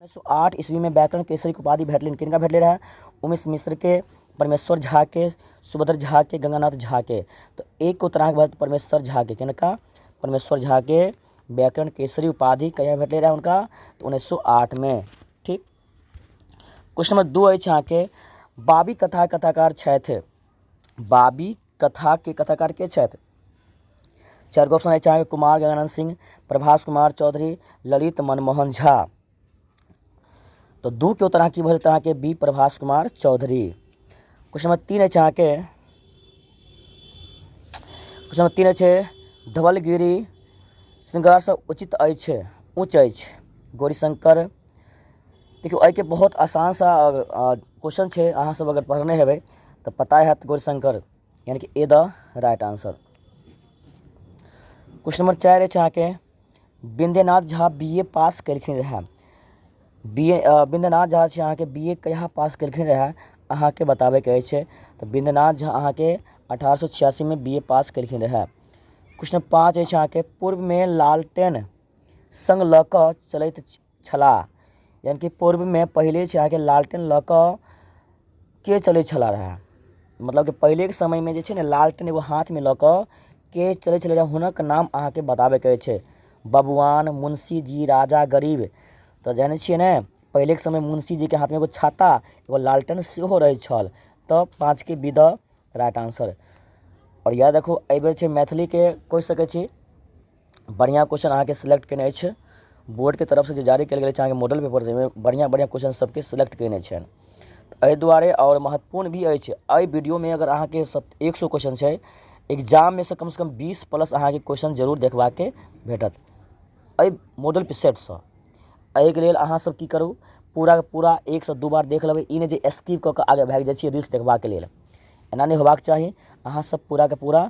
उन्नैस सए आठ ईस्वीमे व्याकरण केसरीक उपाधि भेटलनि किनका भेटलै रहए उमेश मिश्रके परमेश्वर झाके सुभद्र झाके गङ्गानाथ झाके तऽ एक उत्तर अहाँके भऽ परमेश्वर झाके किनका परमेश्वर झाके व्याकरण केसरी उपाधि कहिया भेटलै रहए हुनका तऽ उन्नैस सए आठमे ठीक क्वेश्चन नम्बर दू अछि अहाँके बाबी कथा कथाकार छथि बाबी कथाके कथाकार के छथि चारि गो ऑप्शन अछि अहाँके कुमार गजानन सिंह प्रभास कुमार चौधरी ललित मनमोहन झा तऽ दू के उत्तर अहाँ की भऽ जेतै अहाँके B Prabhas Kumar Chaudhary question number तीन अछि अहाँके क्वेश्चन नंबर तीन अछि धवलगिरी श्रृंगारसँ उचित अछि ऊँच अछि गौरीशंकर देखियौ एहिके बहुत आसान सा क्वेश्चन छै अहाँ सब अगर पढ़ने हेबै तऽ पता हैत गौरशंकर यानी कि A the right answer question number चारि अछि अहाँके बिंदेनाथ झा बी ए पास केलखिन रहए बी ए बिंदेनाथ झा छै अहाँके बी ए कहिया पास केलखिन रहए अहाँके बताबैके अछि तऽ बिंदेनाथ झा अहाँके अठारह सए छियासीमे बी ए पास केलखिन रहए क्वेश्चन पाँच अछि अहाँके पूर्वमे लालटेन संग लऽ कऽ चलैत छलाह यानि कि पूर्वमे पहिले छै अहाँके लालटेन लऽ कऽ के चलै छला रहै मतलब कि पहिलेके समयमे जे छै ने लालटेन एगो हाथमे लऽ कऽ के चलै छलै रहै हुनक नाम अहाँके बताबैके छै बबुआन मुंशी जी राजा गरीब तऽ जानै छियै ने पहिलेके समयमे मुंशी जीके हाथमे एगो छाता एगो लालटेन सेहो रहै छल तऽ पाँचके बी द राइट आंसर आओर इएह देखू एहि बेर छै मैथिलीके कहि सकै छी बढ़िआँ क्वेश्चन अहाँके सेलेक्ट कयने अछि बोर्डके तरफसँ जे जारी कयल गेल अछि अहाँके मॉडल पेपर जाहिमे बढ़िआँ बढ़िआँ क्वेश्चन सभके सेलेक्ट कयने छनि तऽ एहि दुआरे आओर महत्वपूर्ण भी अछि एहि वीडियोमे अगर अहाँके सत एक सए क्वेश्चन छै एग्जाममे सँ कमसँ कम बीस प्लस अहाँके क्वेश्चन जरूर देखबाके भेटत एहि मॉडल सेटसँ एहिके लेल अहाँसभ की करू पूरा पूरा एकसँ दू बार देख लेबै ई नहि जे स्किप कऽ कऽ आगे भागि जाइ छियै रील्स देखबाके लेल एना नहि होयबाक चाही अहाँसभ पूराके पूरा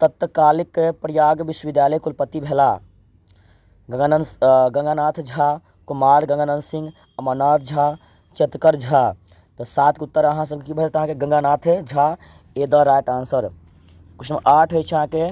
तत्कालिक प्रयाग विश्वविद्यालयक कुलपति भेलाह। गंगानाथ झा, कुमार गंगानंद सिंह, अमरनाथ झा, चेतकर झा तऽ सात के उत्तर अहाँ सब के की भेल तऽ अहाँ के Ganganath Jha is the right answer. Question number आठ होय छै अहाँ के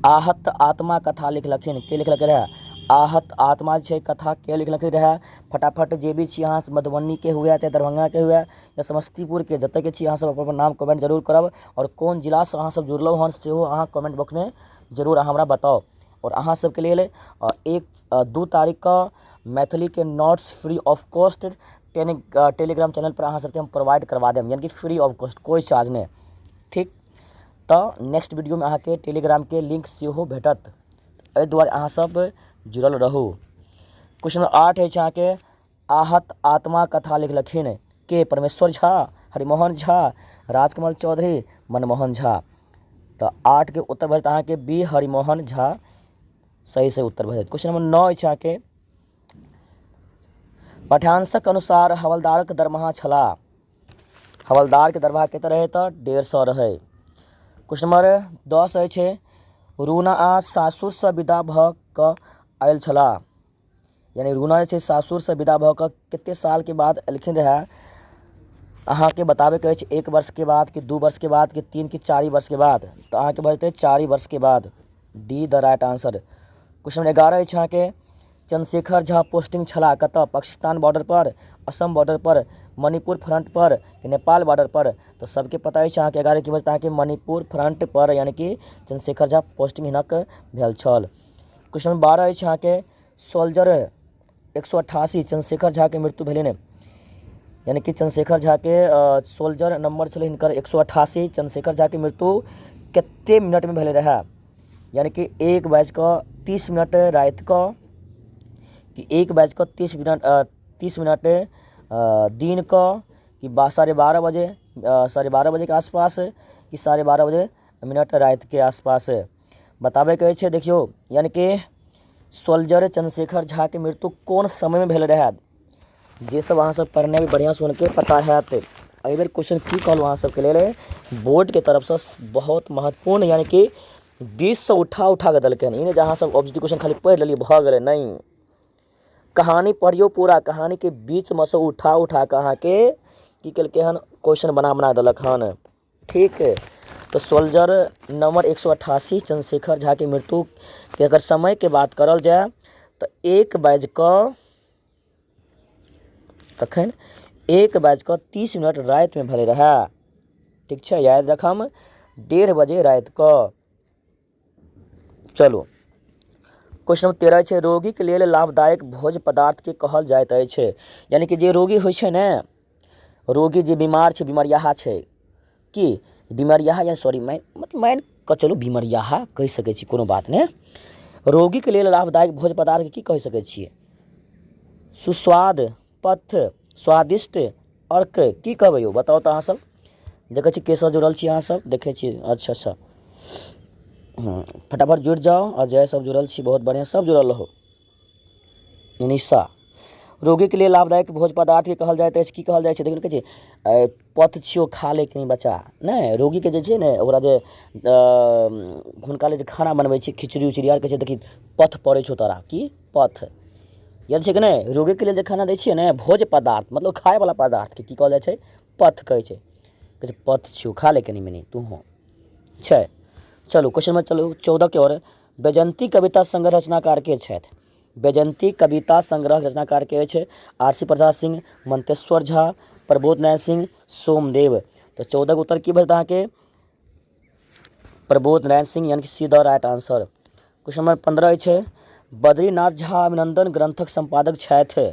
आहत आत्मा कथा लिखलखिन के लिखलकै रहै? आहत आत्मा छै कथा के लिखलकै रहै? फटाफट जे भी छी अहाँ मधुबनी के हुए चाहे दरभंगा के हुए या समस्तीपुर के जतय के छी अहाँ सब अपन-अपन नाम कमेंट जरूर करब। आओर कोन जिलासँ अहाँसभ जुड़लहुँ हेँ सेहो अहाँ कमेंट बॉक्समे जरूर अहाँ हमरा बताउ आओर अहाँसभके लेल एक दू तारीखकेँ मैथिलीके notes free of cost tele Telegram चैनलपर अहाँसभके हम प्रोवाइड करवा देब यानि कि फ्री ऑफ कॉस्ट कोइ चार्ज नहि ठीक तऽ नेक्स्ट वीडियोमे अहाँके टेलीग्रामके लिंक सेहो भेटत एहि दुआरे अहाँसभ जुड़ल रहू क्वेश्चन नंबर आठ अछि अहाँके आहत आत्मा कथा लिखलखिन के परमेश्वर झा हरिमोहन झा राजकमल चौधरी मनमोहन झा तऽ आठके उत्तर भऽ जायत अहाँके बी हरिमोहन झा सही से उत्तर भऽ जायत क्वेश्चन नंबर नओ अछि अहाँके पठानसक अनुसार हवलदारक दरमाहा छलाह हवलदारके दरमाहा कतेक रहै तऽ डेढ़ सए रहै क्वेश्चन नंबर दस अछि रूना आ सासुरसँ विदा भऽ कऽ आयल छलाह यानि रुना जे छै सासुरसँ विदा भऽ कऽ कतेक सालके बाद एलखिन रहए अहाँकेँ बताबयके अछि एक वर्षके बाद कि दू वर्षके बाद कि तीन कि चारि वर्षके बाद तऽ अहाँकेँ भऽ जेतै चारि वर्षके बाद D the right answer question number एगारह अछि अहाँके चन्द्रशेखर झा पोस्टिंग छलाह कतय पाकिस्तान बॉर्डरपर असम बॉर्डरपर मणिपुर फ्रंटपर कि नेपाल बॉर्डरपर तऽ सभके पता अछि अहाँके एगारह की बजतै अहाँके मणिपुर फ्रंटपर यानि कि चन्द्रशेखर झा पोस्टिंग हिनक भेल छल क्वेश्चन नंबर बारह अछि अहाँके सोल्जर एक सए अट्ठासी चंद्रशेखर झाके मृत्यु भेलनि यानि कि चंद्रशेखर झाके सोल्जर नंबर छलै हिनकर एक सए अट्ठासी चंद्रशेखर झाके मृत्यु कतेक मिनटमे भेलै रहए यानि कि एक बाजि कऽ तीस मिनट राति कऽ कि एक बाजि कऽ तीस मिनट अ, तीस मिनट अ, दिन कऽ कि बा साढ़े बारह बजे अ, साढ़े बारह बजेके आसपास कि साढ़े बारह बजे मिनट रातिके आसपास बताबैके अछि देखियौ यानि कि सोल्जर चन्द्रशेखर झाके मृत्यु कोन समयमे भेल रहए जे सब अहाँ सब पढ़ने हेबै बढ़िआँ से हुनके पता होयत एहि बेर क्वेश्चन की कहलहुँ अहाँ सबके लेल बोर्डके तरफसँ बहुत महत्वपूर्ण यानि कि बीससँ उठा उठा कऽ देलकै हन ई नहि जे अहाँ सब ऑब्जेक्टिव क्वेश्चन खाली पढ़ि लेलियै भऽ गेलै नहि कहानी पढ़ियौ पूरा कहानीके बीचमे से उठा उठा कऽ अहाँके की केलकै हन क्वेश्चन बना बना देलक हन ठीक तऽ सोल्जर नम्बर एक सए अठासी चन्द्रशेखर झाके मृत्युके अगर समयके बात करल जाय तऽ एक बाजि कऽ तखन एक बाजि कऽ तीस मिनट रातिमे भेलै रहए ठीक छै याद राखब डेढ़ बजे राति कऽ चलू क्वेश्चन नंबर तेरह छै रोगीक लेल लाभदायक भोज पदार्थके कहल जाइत अछि यानि कि जे रोगी होइ छै ने रोगी जे बीमार छै बीमारियाहा छै कि बीमारियाहा या सॉरी माइन मतलब माइन कऽ चलू बीमारियाहा कहि सकै छी कोनो बात नहि रोगीके लेल लाभदायक भोज पदार्थके की कहि सकै छियै सुस्वाद पथ स्वादिष्ट अर्क की कहबै यौ बताउ तऽ अहाँसभ देखै छी केसभ जुड़ल छी अहाँसभ देखै छी अच्छा अच्छा हँ फटाफट जुड़ि जाउ आओर जएहसभ जुड़ल छी बहुत बढ़िआँ सभ जुड़ल रहू निशा रोगीके लिए लाभदायक भोज पदार्थके कहल जाइत अछि की कहल जाइत छै देखियौ कहै छै ए, पथ छियौ खा ले कहीं बच्चा नहि रोगीके जे छै ने ओकरा जे अ, हुनका लेल जे खाना बनबै छै खिचड़ी उचड़ी आर कहै छै देखी पथ पड़ै छौ तोरा की पथ याद छै कि नहि रोगीके लेल जे खाना दै छियै ने भोज्य पदार्थ मतलब खायवला पदार्थके की कहल जाइ छै पथ कहै छै कहै छै पथ छियौ खा ले कनि मनि तूहो छै चलू क्वेश्चन नंबर चलू चौदहके ओर वैजयंती कविता संग्रह रचनाकार के छथि वैजयंती कविता संग्रह रचनाकार के अछि आर सी प्रसाद सिंह मंतेश्वर झा प्रबोध नारायण सिंह सोमदेव तऽ चौदहके उत्तर की भेल अहाँके प्रबोध नारायण सिंह यानी C the right answer question number पंद्रह छै बद्रीनाथ झा अभिनंदन ग्रंथक संपादक छथि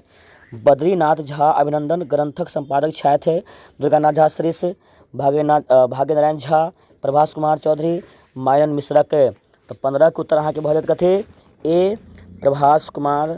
बद्रीनाथ झा अभिनंदन ग्रंथक संपादक छथि दुर्गानाथ झा श्रेष्ठ भाग्यनाथ भाग्यनारायण झा प्रभास कुमार चौधरी मायन मिश्रक तऽ पंद्रहके उत्तर अहाँके भऽ जायत कथी ए प्रभास कुमार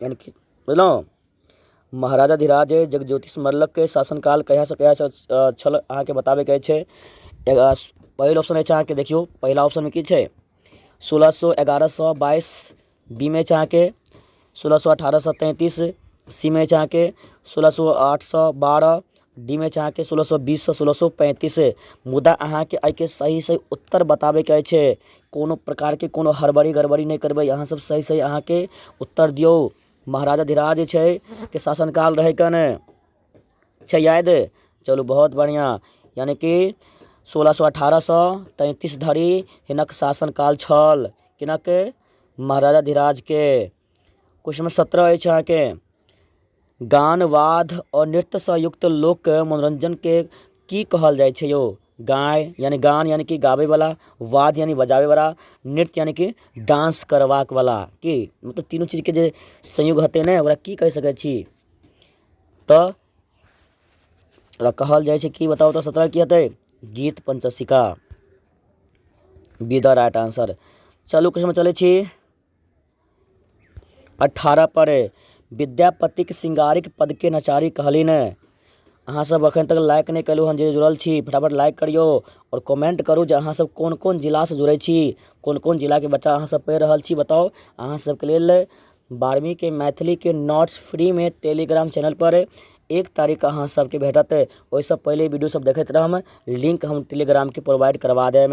एहन किछु बुझलहुँ महाराजाधिराज जगज्योति स्मरणके शासनकाल कहियासँ कहिया तक छल अहाँकेँ बताबयके अछि एकरा पहिल ऑप्शन अछि अहाँकेँ देखियौ पहिला ऑप्शनमे की छै सोलह सए एगारह सए बाइस बीमे अछि अहाँकेँ सोलह सए अठारह सए तैंतीस सीमे अछि अहाँकेँ सोलह सए आठ सए बारह डी मे छै अहाँके सोलह सए बीस सए सोलह सए पैंतीस मुदा अहाँके एहिके सही सही उत्तर बताबैके अछि कोनो प्रकारके कोनो हड़बड़ी गड़बड़ी नहि करबै अहाँ सब सही सही अहाँके उत्तर दियौ महाराजा धिराज जे छै के शासन काल रहै कने छै याद चलू बहुत बढ़िऑं यानि कि सोलह सए अठारह सए तैंतीस धरि हिनक शासन काल छल किनक महाराजा धिराजके क्वेश्चन नंबर सत्रह अछि अहाँके गान वाद आओर नृत्यसँ युक्त लोकके मनोरञ्जनके की कहल जाइ छै यौ गाय यानि गान यानि कि गाबैवला वाद यानि बजाबैवला नृत्य यानि कि डांस करबाक वला की मतलब तीनू चीजके जे संयोग हेतै ने ओकरा की कहि सकै छी तऽ ओकरा कहल जाइ छै की बताउ तऽ सत्रह की हेतै गीत पंचसिका बी द राइट आंसर चलू क्वेश्चन चलै छी अठारह परे विद्यापतिक सिंगारिक पदके नचारी कहली ने अहाँसभ एखन तक लाइक नहि केलहुँ हन जे जुड़ल छी फटाफट लाइक करियौ आओर कमेंट करू जे अहाँसभ कोन कोन जिलासँ जुड़ै छी कोन कोन जिलाके बच्चा अहाँसभ पढ़ि रहल छी बताउ अहाँसभके लेल बारहवींके मैथिलीके नोट्स फ्रीमे टेलीग्राम चैनलपर एक तारीख अहाँसभके भेटत ओहिसँ पहिले वीडियोसभ देखैत रहब लिंक हम टेलीग्रामके प्रोवाइड करवा देब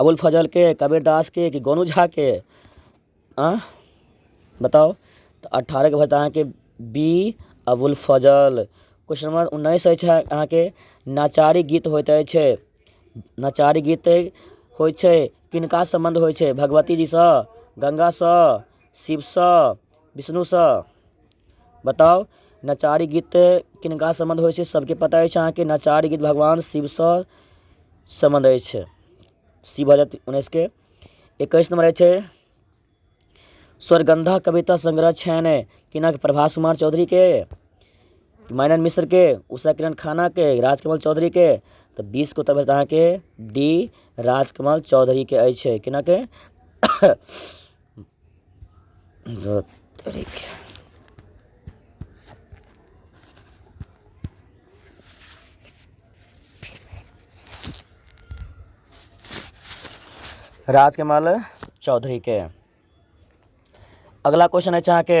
अबुल फजलके कबीर दासके कि गोनू झाके आँ बताउ तऽ अठारहके भऽ जायत अहाँके B Abul Fazal question number उन्नैस अछि अहाँके नचारी गीत होइत अछि नचारी गीत होइ छै किनका सम्बन्ध होइ छै भगवती जीसँ गंगासँ शिवसँ विष्णुसँ बताउ नचारी गीत किनका सम्बन्ध होइ छै सबके पता अछि अहाँके नचारी गीत भगवान शिवसँ सम्बन्ध अछि शिव भऽ जायत उन्नैस के एकैस नम्बर अछि स्वर्गन्धा कविता संग्रह छनि किनक प्रभास कुमार चौधरीके माइनन मिश्रके उषा किरण खानाके राजकमल चौधरीके तऽ बीस को तब अहाँके डी राजकमल चौधरीके अछि किनक धोत तरीके राजकमल चौधरीके अगिला क्वेश्चन अछि अहाँके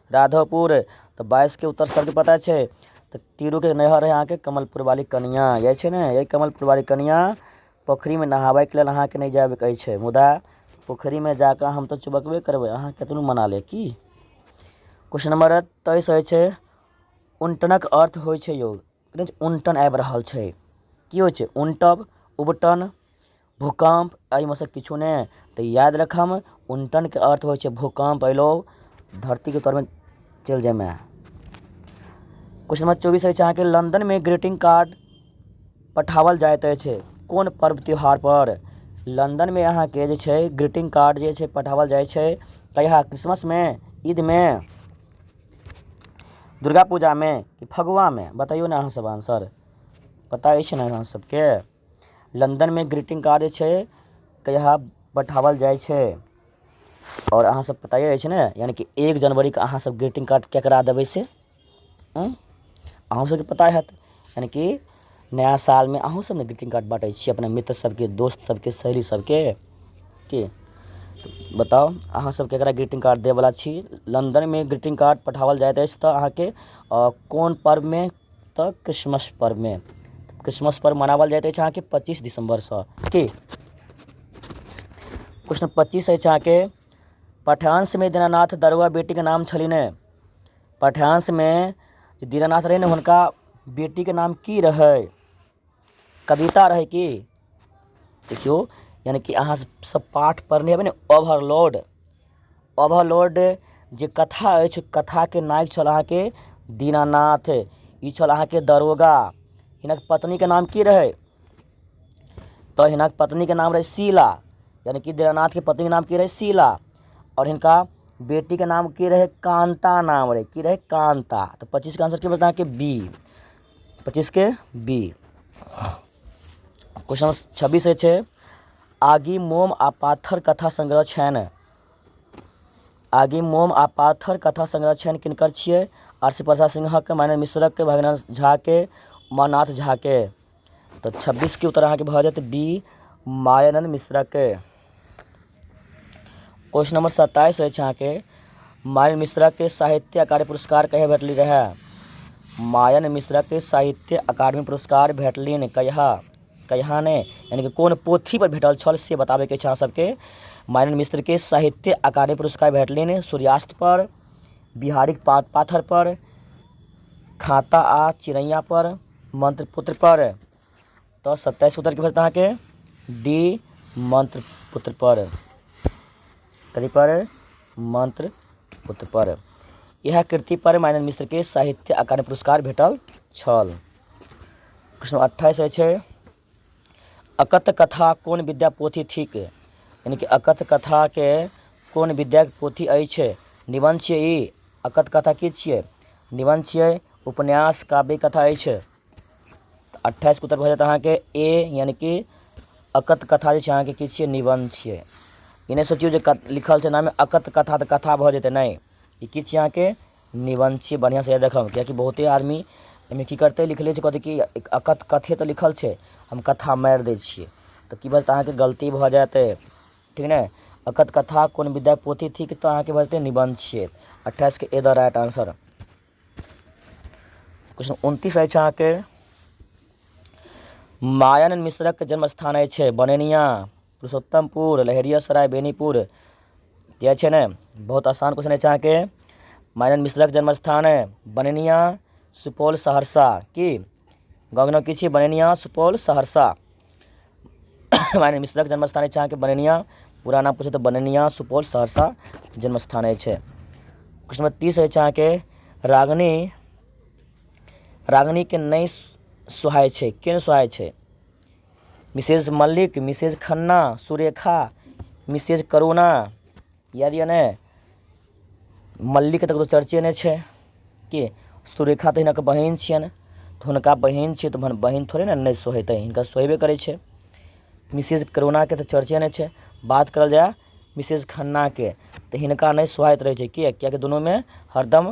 राधोपुर तऽ बाइसके उत्तर सबके पता छै तऽ तिरुके नैहर है अहाँके कमलपुर बाली कनियाँ इएह छै ने इएह कमलपुर बाली कनियाँ पोखरिमे नहाबैके लेल अहाँके नहि जाइके कहै छै मुदा पोखरिमे जाकऽ हम तऽ चुबकबे करबै अहाँ कतनो मना लेब की क्वेश्चन नम्बर तेइस होइ छै उनटनक अर्थ होइ छै यौ उनटन आबि रहल छै की होइ छै उनटब उबटन भूकम्प एहिमे सँ किछो नहि तऽ याद राखब उनटनके अर्थ होइ छै भूकम्प अयलौ धरतीके तरमे चलि जाइमे क्वेश्चन नंबर चौबीस अछि अहाँके लंदनमे ग्रीटिंग कार्ड पठाओल जाइत अछि कोन पर्व त्योहार पर लंदनमे अहाँके जे छै ग्रीटिंग कार्ड जे छै पठाओल जाइ छै कहिया क्रिसमसमे ईदमे दुर्गा पूजामे कि फगुआमे बतैयौ ने अहाँ सब आंसर पता अछि ने अहाँ सबके लन्दनमे ग्रीटिंग कार्ड जे छै कहिया पठाओल जाइ छै आओर अहाँ सब पता अछि ने यानि कि एक जनवरीके अहाँ सब ग्रीटिंग कार्ड केकरा देबै से उँ अहूँ सबके पता होयत यानि कि नया सालमे अहूँ सब ने ग्रीटिंग कार्ड बाँटै छियै अपना मित्र सबके दोस्त सबके सहेली सबके की बताउ अहाँ सब केकरा ग्रीटिंग कार्ड दै बला छी लन्दनमे ग्रीटिंग कार्ड पठाओल जाइत अछि तऽ अहाँके कोन पर्वमे तऽ क्रिसमस पर्वमे क्रिसमस पर्व मनाओल जाइत अछि अहाँके पच्चीस दिसम्बरसँ की प्रश्न पच्चीस अछि अहाँके पठानसमे दीनानाथ दरुआ बेटीके नाम छलनि हेँ पठानसमे दीनानाथ रहै ने हुनका बेटीके नाम की रहै कविता रहै कि देखियौ यानि कि अहाँ सभ पाठ पढ़ने हेबै ने ओवरलोड ओवरलोड जे कथा अछि कथाके नायक छल अहाँके दीनानाथ ई छल अहाँके दरोगा हिनक पत्नीके नाम की रहै तऽ हिनक पत्नीके नाम रहै शीला यानि कि दीनानाथके पत्नीके नाम की रहै शीला आओर हिनका बेटीके नाम की रहै कान्ता नाम रहै की रहै कान्ता तऽ पच्चीसके आंसर की बचलै अहाँके बी पच्चीस के बी क्वेश्चन नंबर छब्बीस है छे आगी मोम आ पाथर कथा संग्रह छैन आगी मोम आ पाथर कथा संग्रह छैन किनकर छियै आरसी प्रसाद सिंहक माने मिश्रक के भगना झा के उमानाथ झा के तो छब्बीस के उत्तर अहाँ के भऽ जायत बी मायानंद मिश्रा के क्वेश्चन नंबर सत्ताईस अछि अहाँके मायन मिश्रा के साहित्य अकादमी पुरस्कार कहिया भेटली रहे मायन मिश्रा के साहित्य अकादमी पुरस्कार भेटलिन कहिया कहिया ने यानी कि कोन पोथी पर भेटल छल से बताबे के छै अहाँ सबके मायन मिश्र के साहित्य अकादमी पुरस्कार भेटलिन सूर्यास्त पर बिहारिक पा, पाथर पर खाता आ चिड़ैया पर मंत्र पुत्र पर तऽ सत्ताइस उत्तर की भेटत अहाँके डी मंत्र पुत्र पर कथी पर मंत्र पुत्र पर यह कृति पर माइनर मिश्र के साहित्य अकादमी पुरस्कार भेटल छल प्रश्न अट्ठाईस है अकथ कथा कौन विद्या पोथी थिक यानी कि अकथ कथा के कौन विद्या पोथी अछि निबंध छियै ई अकथ कथा की छियै निबंध छियै उपन्यास काव्य कथा अछि अट्ठाइस उत्तर भऽ जायत अहाँके ए यानि कि अकत कथा जे छै अहाँके की छियै निबन्ध छियै ई नहि सोचियौ जे लिखल छै नामे अकत कथा तऽ कथा भऽ जेतै नहि ई की छियै अहाँके निबन्ध छियै बढ़िआँसँ याद रखब किएकि बहुते आदमी एहिमे की करतै लिखले छै कहतै कि अकत कथे तऽ लिखल छै हम कथा मारि दै छियै तऽ की बजतै अहाँके गलती भऽ जायत ठीक ने अकत कथा कोन विद्या पोथी थिक तऽ अहाँके बजतै निबन्ध छियै अट्ठाइसके A the right answer question उनतीस अछि अहाँके मायन मिश्रक जन्म स्थान अछि बनेनिया पुरुषोत्तमपुर लहेरिया सराय बेनीपुर किया छै ने बहुत आसान क्वेश्चन अछि अहाँके मायन मिश्रक जन्म स्थान बनेनिया सुपौल सहरसा की गाँवके नाम की छियै बनेनिया सुपौल सहरसा रानी मिसरक जन्म स्थान अछि अहाँके बनैनिया पूरा नाम पूछब तऽ बनैनिया सुपौल सहरसा जन्म स्थान अछि क्वेश्चन नम्बर तीस अछि अहाँके रागनी रागनीके नहि सुहाय छै के सुहाय छै Mrs Mallik Mrs Khanna Surekha Mrs Karuna याद यऽ ने मल्लीके तऽ ककरो चर्चे नहि छै कि सुरेखा तऽ हिनक बहिन छियनि तऽ हुनका बहिन छियै तऽ बहिन थोड़े ने नहि सोहेतै हिनका सोहेबे करै छै मिसेज करोनाके तऽ चर्चे नहि छै बात करल जाय मिसेज खन्नाके तऽ हिनका नहि सोहाइत रहै छै किएक किएकि दुनूमे हरदम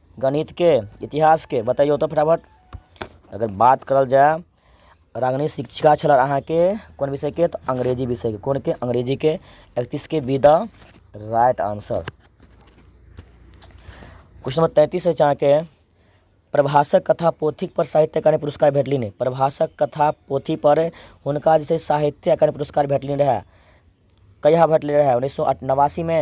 गणितके इतिहासके बतैयौ तऽ फटाफट अगर बात करल जाय रागिनी शिक्षिका छलऽ अहाँके कोन विषयके तऽ अंग्रेजी विषयके कोनके अंग्रेजीके एकतीसके B the right answer question number तैंतीस अछि अहाँके प्रभासक कथा पोथी पर साहित्य अकादमी पुरस्कार भेटलनि प्रभासक कथा पोथी पर हुनका जे छै साहित्य अकादमी पुरस्कार भेटलनि रहए कहिया भेटलै रहए उन्नैस सए नवासीमे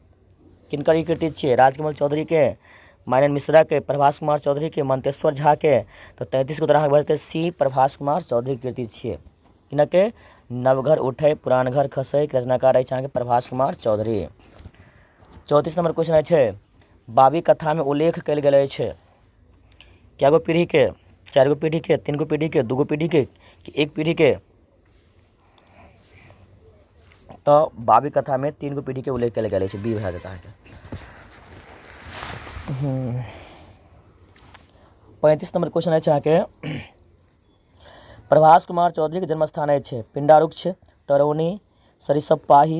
किनकर ई कृति छियै राजकमल चौधरीके मायनन मिश्राके प्रभास कुमार चौधरीके मंतेश्वर झाके तऽ तैंतीसके उत्तर अहाँके भऽ जेतै सी प्रभास कुमार चौधरी कृति छियै किनके नवघर उठै पुरान घर खसै के रचनाकार अछि अहाँके प्रभास कुमार चौधरी चौंतीस नंबर क्वेश्चन अछि बाबी कथामे उल्लेख कयल गेल अछि कए गो पीढ़ीके चारि गो पीढ़ीके तीन गो पीढ़ीके दू गो पीढ़ीके कि एक पीढ़ीके तऽ बाबी कथामे तीन गो पीढ़ीके उल्लेख कयल गेल अछि बीर भए अहाँके पैंतीस नंबर क्वेश्चन अछि अहाँके प्रभास कुमार चौधरीके जन्मस्थान अछि पिंडारुक्ष तरौनी सरिसब पाही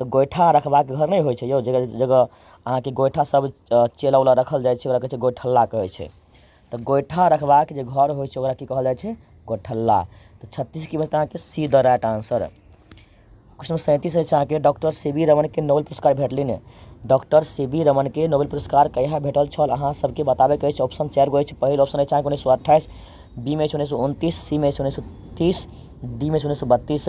तऽ गोइठा रखबाक घर नहि होइ छै यौ जकर जगह अहाँके गोइठा सब चेला उला रखल जाइ छै ओकरा कहय छै गोइठल्ला कहय छै तऽ गोइठा रखबाक जे घर होइ छै ओकरा की कहल जाइ छै गोइठल्ला तऽ छत्तीस की बचतय अहाँके C the right answer question number सैंतीस अछि अहाँके डॉक्टर सी वी रमणके नोबेल पुरस्कार भेटलनि डॉक्टर सी वी रमणके नोबेल पुरस्कार कहिया भेटल छल अहाँ सबके बताबयके अछि ऑप्शन चारि गो अछि पहिल ऑप्शन अछि अहाँके उन्नैस सए अट्ठाइस बी मे अछि उन्नैस सए उनतीस सी मे अछि उन्नैस सए तीस डी मे अछि उन्नैस सए बत्तीस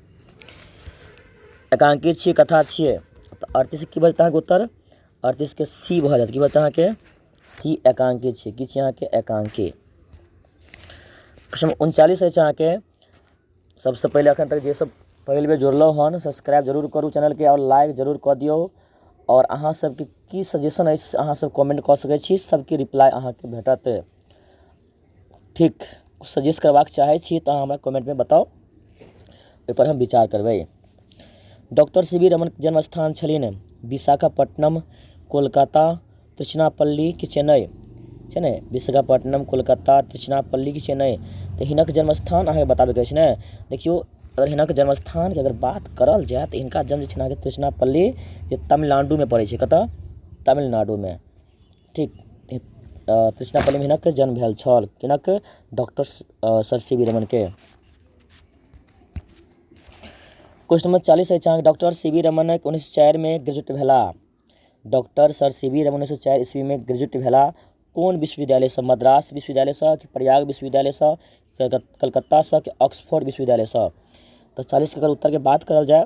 एकांकी छियै कथा छियै तऽ अड़तीस की बचत अहाँके उत्तर अड़तीसके सी भऽ जायत की बचत अहाँके सी एकांकी छियै की छियै अहाँके एकांकी प्रश्न उनचालीस अछि अहाँके सबसँ पहिले एखन तक जे सब पहिल बेर जुड़लहुँ हन सब्सक्राइब जरूर करू चैनलके आओर लाइक जरूर कऽ दियौ आओर अहाँ सबके की सजेशन अछि अहाँ सब कमेंट कऽ सकै छी सबके रिप्लाई अहाँके भेटत ठीक सजेस्ट करबाक चाहै छी तऽ अहाँ हमरा कमेन्टमे बताउ ओहिपर हम विचार करबै डॉक्टर सी वी रमन जन्म स्थान छलनि विशाखापट्टनम कोलकाता तिरुचनापल्ली कि चेन्नइ छै ने विशाखापट्टनम कोलकाता तिरुचनापल्ली कि चेन्नइ तऽ हिनक जन्म स्थान अहाँके बताबैके अछि ने देखियौ अगर हिनक जन्म स्थानके अगर बात करल जाय तऽ हिनका जन्म जे छनि अहाँके तिरुचनापल्ली जे तमिलनाडुमे पड़ै छै कतय तमिलनाडुमे ठीक तृष्णापल्लीमे हिनक जन्म भेल छल किनक डॉक्टर सर सी वी रमनके क्वेश्चन नंबर चालीस अछि अहाँके डॉक्टर सी वी रमन उन्नैस चारिमे ग्रेजुएट भेलाह doctor sir C V Raman उन्नैस चारि ईस्वीमे ग्रेजुएट भेलाह कोन विश्वविद्यालयसँ मद्रास विश्वविद्यालयसँ कि प्रयाग विश्वविद्यालयसँ कलकत्तासँ कि ऑक्सफोर्ड विश्वविद्यालयसँ तऽ चालीसके अगर उत्तरके बात करल जाय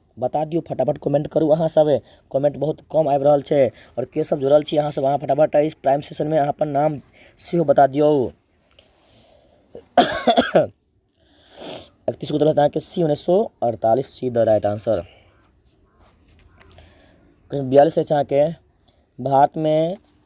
बता दियौ फटाफट कमेन्ट करू अहाँ सब कमेन्ट बहुत कम आबि रहल छै आओर के सब जुड़ल छी अहाँ सब अहाँ फटाफट एहि टाइम सेशनमे अहाँ अपन नाम सेहो बता दियौ एकतीस उतरत अहाँके सी उन्नैस सए अड़तालीस C the right answer question बयालीस अछि अहाँके भारतमे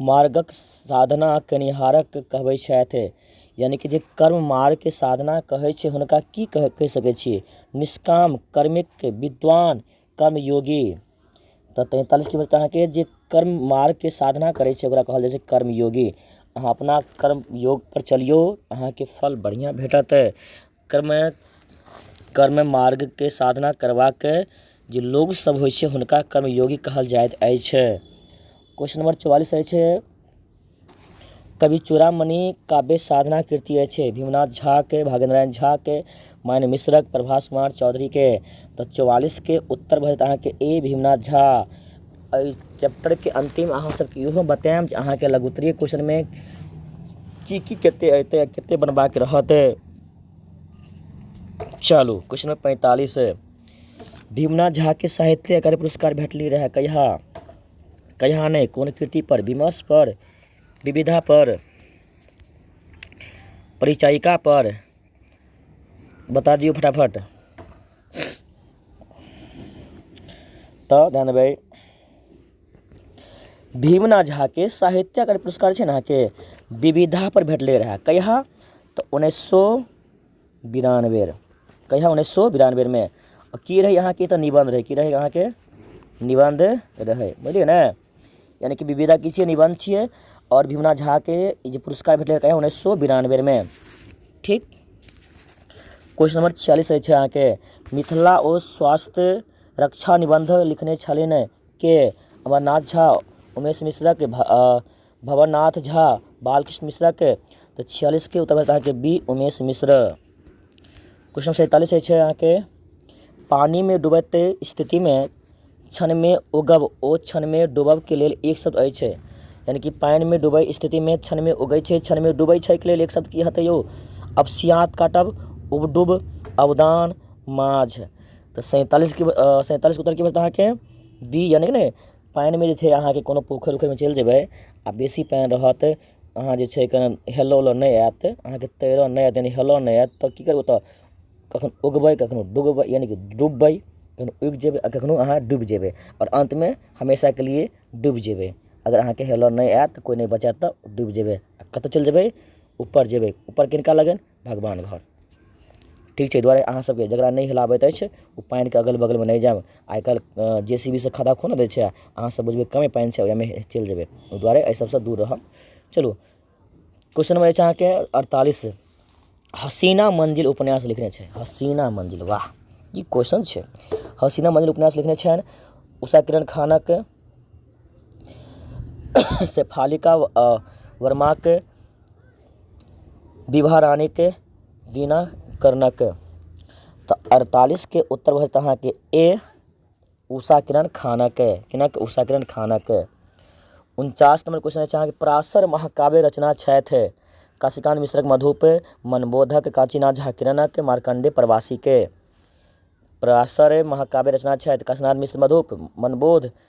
मार्गक साधना केनिहारक कहबै छथि यानि कि जे कर्म मार्गके साधना कहै छै हुनका की कह कहि सकै छी निष्काम कर्मिक विद्वान कर्म योगी तऽ तैंतालिस किलोमीटर तऽ अहाँके जे कर्म मार्गके साधना करै छै ओकरा कहल जाइ छै कर्म योगी अहाँ अपना कर्म योगपर चलियौ अहाँके फल बढ़िआँ भेटत कर्ममे कर्ममे मार्गके साधना करबाक जे लोग सब होइ छै हुनका कर्मयोगी कहल जाइत अछि क्वेश्चन नम्बर चौआलिस अछि कवि चूड़ामणि काव्य साधना कृति अछि भीमनाथ झाके भागेन्द्र नारायण झाके माइन मिश्रक प्रभास कुमार चौधरीके तऽ चौआलिसके उत्तर भऽ जायत अहाँके ए भीमनाथ झा एहि चैप्टरके अन्तिम अहाँ सबके इहो बतायब जे अहाँके लघुत्तरीय क्वेश्चनमे की की कते अयतै आ कते बनबाक रहत चलू क्वेश्चन नंबर पैंतालीस भीमनाथ झा के साहित्य अकादमी पुरस्कार भेटली रहे कहिया कहिया नहि कोन कृति पर विमर्श पर विविधा पर परिचायिका पर बता दियौ फटाफट तऽ जानबै भीमना झाके साहित्य अकादमी पुरस्कार छै ने अहाँके विविधापर भेटलै रहए कहिया तऽ उन्नैस सए बिरानबे कहिया उन्नैस सए बिरानबेमे की रहै अहाँके तऽ निबन्ध रहै की रहै अहाँके निबन्ध रहै बुझलियै ने यानि कि विविधा की छियै निबन्ध छियै आओर भीमना झाके ई जे पुरस्कार भेटलै कहिया उन्नैस सए बिरानबेमे ठीक क्वेश्चन नंबर छियालीस अछि अहाँके मिथिला ओ स्वास्थ्य रक्षा निबन्ध लिखने छलिन के अमरनाथ झा उमेश मिश्रक भवनाथ झा बालकृष्ण मिश्रक तऽ छियालिसके उत्तर होयत अहाँके बी उमेश मिश्र क्वेश्चन सैंतालिस अछि अहाँके पानिमे डूबैत स्थितिमे क्षणमे उगब ओ क्षणमे डूबबके लेल एक शब्द अछि यानि कि पानिमे डूबै स्थितिमे क्षणमे उगै छै क्षणमे डूबै छै एहिके लेल एक शब्द की हेतै यौ अवसियात काटब उबडुब अवदान माँझ तऽ सैंतालिस की सैंतालिस उत्तर की बचतै अहाँके बी यानि कि ने पानिमे जे छै अहाँके कोनो पोखरि उखरिमे चलि जेबै आ बेसी पानि रहत अहाँ जे छै कन हेलय उलय नहि आयत अहाँके तैरय नहि आयत यानि हेलय नहि आयत तऽ की करबै ओतय कखनहु उगबै कखनहु डुबबै यानि कि डुबबै कखनहु उगि जेबै आ कखनहु अहाँ डुबि जेबै आओर अन्तमे हमेशाके लिए डुबि जेबै अगर अहाँके हेलय नहि आयत कोइ नहि बचायत तऽ डुबि जेबै आ कतय चलि जेबै ऊपर जेबै ऊपर किनका लगन भगवान घर ठीक छै एहि दुआरे अहाँसभके जकरा नहि हेलय अबैत अछि ओ पानिके अगल बगलमे नहि जायब आइ काल्हि जे सी बी सँ खद्धा खुनि दैत छै आ अहाँसभ बुझबै कमे पानि छै ओहिमे चलि जेबै ओहि दुआरे एहि सभसँ दूर रहब चलू क्वेश्चन नम्बर अछि अहाँके अड़तालीस हसीना मंजिल उपन्यास लिखने छै हसीना मंजिल वाह ई क्वेश्चन छै हसीना मंजिल उपन्यास लिखने छनि उषा किरण खानक शेफालिका वर्माके विवाह रानीके दीना कर्णक तऽ अड़तालीसके उत्तर भऽ जेतै अहाँके ए उषा किरण खानक किनक उषा किरण खानक उनचास नम्बर क्वेश्चन अछि अहाँके पराशर महाकाव्य रचना छथि काशीकान्त मिश्रक मधुप मनबोधक काशीनाथ झा किरणक मार्कण्डेय प्रवासीके पराशर महाकाव्य रचना छथि काशीनाथ मिश्र मधुप मनबोध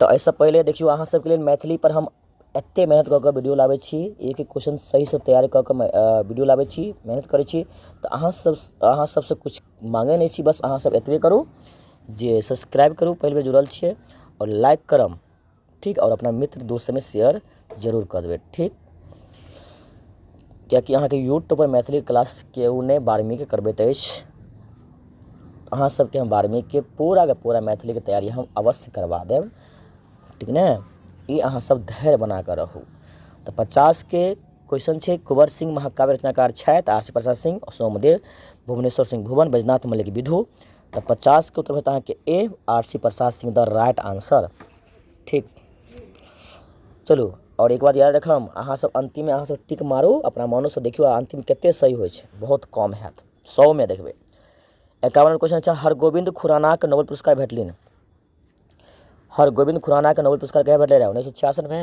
तऽ एहिसँ पहिले देखियौ अहाँ सबके लेल मैथिली पर हम एते मेहनत कऽ कऽ वीडियो लाबै छी एक एक क्वेश्चन सहीसँ तैयार कऽ कऽ वीडियो लाबै छी मेहनत करै छी तऽ अहाँ सब अहाँ सबसँ किछु माँगै नहि छी बस अहाँ सब एतबे करू जे सब्सक्राइब करू पहिल बेर जुड़ल छियै आओर लाइक करब ठीक आओर अपना मित्र दोस्त सबमे शेयर जरूर कऽ देबै ठीक किएकि अहाँके यूट्यूबपर मैथिली क्लास केओ नहि बारहवींके करबैत अछि अहाँ सभके हम बारहवींके पूराके पूरा मैथिलीके तैयारी हम अवश्य करबा देब ठीक ने ई अहाँसभ धैर्य बना कऽ रहू तऽ पचासके क्वेश्चन छै कुँवर सिंह महाकाव्य रचनाकार छथि आर सी प्रसाद सिंह सोमदेव भुवनेश्वर सिंह भुवन बैजनाथ मलिक विधु तऽ पचासके उत्तर होत अहाँके A R C Prasad Singh the right answer ठीक चलू आओर एक बात याद रखब अहाँसभ अन्तिममे अहाँसभ टिक मारू अपना मोनोसँ देखियौ आ अन्तिम कतेक सही होइ छै बहुत कम हैत सएमे देखबै एकावन क्वेश्चन छै हरगोविन्द खुरानाक नोबेल पुरस्कार भेटलनि हरगोविन्द खुरानाक नोबेल पुरस्कार कहिया भेटलै रहए उन्नैस सए छियासठिमे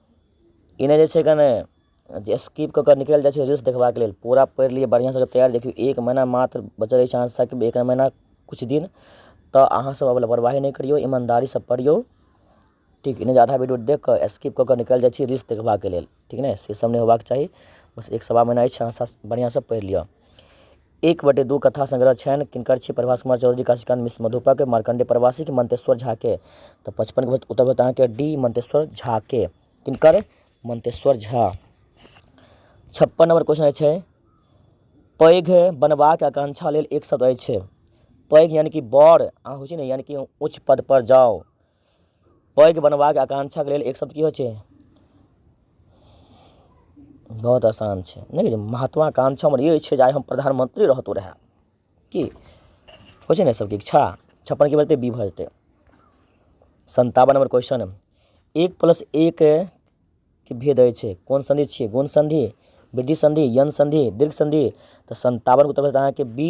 ई नहि जे छै कने जे स्किप कऽ कऽ निकलि जाइ छै रील्स देखबाक लेल पूरा पढ़ि लिअ बढ़िआँसँ तैयार देखियौ एक महीना मात्र बचल अछि अहाँ सभके एक महीना किछु दिन तऽ अहाँसभ आब लापरवाही नहि करियौ ईमानदारीसँ पढ़ियौ ठीक नहि जे आधा वीडियो देखि कऽ स्किप कऽ कऽ निकलि जाइ छी रील्स देखबाक लेल ठीक ने सेसभ नहि होयबाक चाही बस एक सवा महीना अछि अहाँसभ बढ़िआँसँ पढ़ि लिअ एक बटे दू कथा संग्रह छनि किनकर छी प्रभास कुमार चौधरी काशीकांत मिश्र मधुपक मार्कंडे प्रवासी के मंतेश्वर झा के तऽ पचपन के उत्तर होत अहाँके डी मंतेश्वर झा के किनकर मंतेश्वर झा छप्पन नंबर क्वेश्चन अछि पैघ बनबाक आकांक्षा लेल एक शब्द अछि पैघ यानि कि बड़ अहाँ होइ छै ने यानि कि ऊँच पद पर जाउ पैघ बनबाक आकांक्षाक लेल एक शब्द की होइ छै बहुत आसान छै नहि महत्वाकांक्षा हमर ई छै जे आइ हम प्रधानमंत्री रहतौ रहए की होइ छै ने सबके इच्छा छप्पन की बजतै बी भऽ जेतै संतावन नंबर क्वेश्चन एक प्लस एक के भेद अछि कोन संधि छियै गुण संधि वृद्धि संधि यन संधि दीर्घ संधि तऽ संतावन के उत्तर भेटत अहाँके बी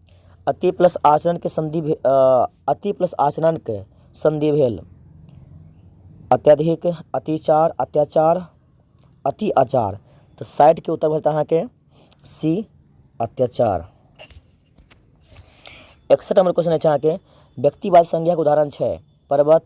अति प्लस आचरणके सन्धि भे अ, अति प्लस आचरणके सन्धि भेल अत्यधिक अतिचार अत्याचार अति आचार तऽ साठिके उत्तर भेल अहाँके सी अत्याचार एकसठ नंबर क्वेश्चन अछि अहाँके व्यक्तिवाद संज्ञाके उदाहरण छै पर्वत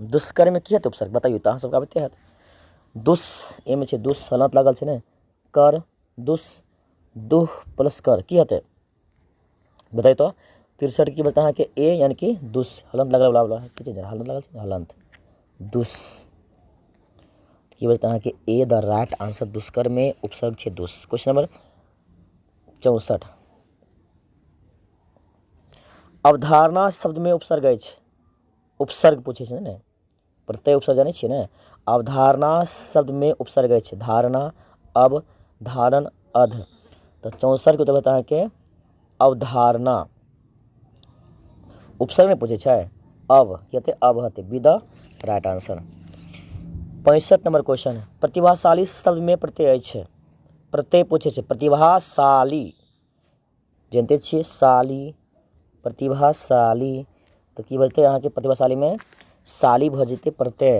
दुष्कर्ममे की हेतै उपसर्ग बतैयौ तऽ अहाँसभके अबिते हैत दुस एहिमे छै दुस सलत लागल छै ने कर दुस दुह प्लस कर की हेतै बताइ तऽ तिरसठ की बता अहाँके ए यानी कि दुस हलंत लगल बला बला की छै हलंत लगल छै हलंत दुस की बता अहाँके ए द राइट आंसर दुष्कर्मे उपसर्ग छै दुस क्वेश्चन नंबर चौंसठ अवधारणा शब्दमे उपसर्ग अछि उपसर्ग पूछै छै ने प्रत्यय उपसर्ग जानै छियै ने अवधारणा शब्दमे उपसर्ग अछि धारणा अब धारण अध तऽ चौसठके उत्तर होयत अहाँके अवधारणा उपसर्ग नहि पूछै छै अब की हेतै अब हेतै बी द राइट आंसर पैंसठ नंबर क्वेश्चन प्रतिभाशाली शब्दमे प्रत्यय अछि प्रत्यय पूछै छै प्रतिभाशाली जनिते छियै साली प्रतिभाशाली तऽ की बजतै अहाँके प्रतिभाशालीमे साली भऽ जेतै पड़तै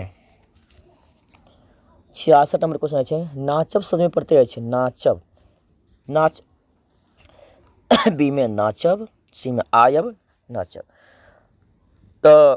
छियासठ नंबर क्वेश्चन छै नाचब सजमे पड़तै अछि नाचब नाच बीमे नाचब सीमे आयब नाचब तऽ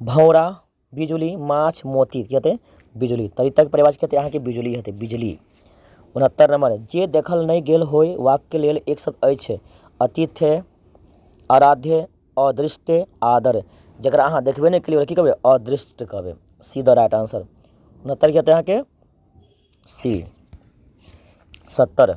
भौरा बिजुली माछ मोती की हेतै बिजुली तरितक परिवार की हेतै अहाँके बिजुली हेतै बिजली उनहत्तर नंबर जे देखल नहि गेल होय वाक्य लेल एक शब्द अछि अतिथ्य आराध्य अदृष्टे आदर जकरा अहाँ देखबे नहि केलियै ओकरा की कहबै अदृष्ट कहबै सी द राइट आंसर उनहत्तर की हेतै अहाँके सी सत्तर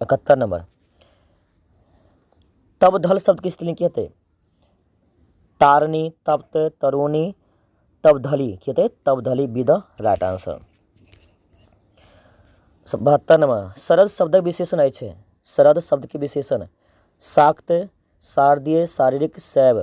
इकहत्तर नंबर तब धल शब्द की स्त्रीलिंग की हेतै तारणी तप्त तरुणी तब धली की हेतै तब धली बी द राइट आंसर बहत्तर नंबर शरद शब्दक विशेषण अछि शरद शब्द के विशेषण शाक्त शारदीय शारीरिक शैव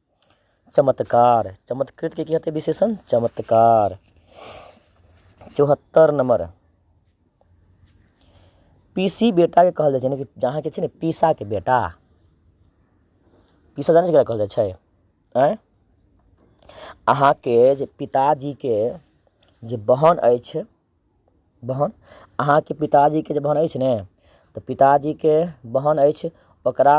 चमत्कार चमत्कृत के की हते विशेषण चमत्कार चौहत्तर नंबर पीसी बेटा के कहल जाइ छै यानी कि जहाँ के छै ने पीसा के बेटा पीसा जाने से कहल जाइ छै आँय अहाँके जे पिताजीके जे बहन अछि बहन अहाँके पिताजीके जे बहन अछि ने तऽ पिताजीके बहन अछि ओकरा